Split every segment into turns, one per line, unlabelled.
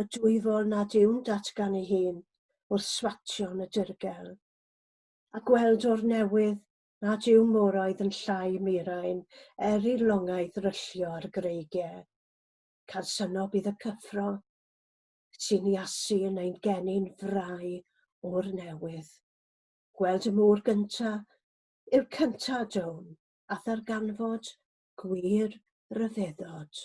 y dwyfol nad yw'n datgan ei hun wrth swatio yn y dirgel, a gweld o'r newydd nad yw moroedd yn llai murain er i longau ddryllio ar greigiau. Cansyno bydd y cyffro, sy'n iasu yn ein geni'n frai o'r newydd. Gweld y môr gynta yw'r cynta down, a ddarganfod gwir ryfeddod.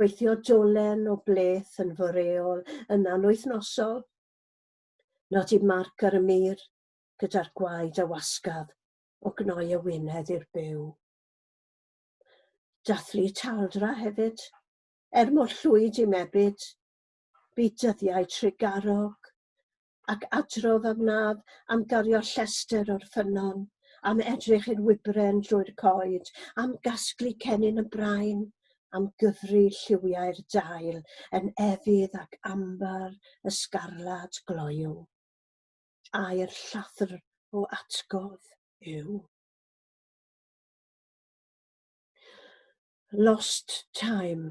Gweithio dolen o bleth yn fy reol yn anwythnosol. Nodi marc ar y mur gyda'r gwaed a wasgaf o gnoi y wyneb i'r byw. Dathlu taldra hefyd, er mor llwyd i mebyd, bu dyddiau trugarog, ac adrodd a wnaf am gario llestr o'r ffynnon, am edrych i'r wybren drwy'r coed, am gasglu cennin y brain, am gyfri lliwiau'r dail yn efydd ac ambar y sgarlad gloyw. Air llathr o atgof yw. Lost Time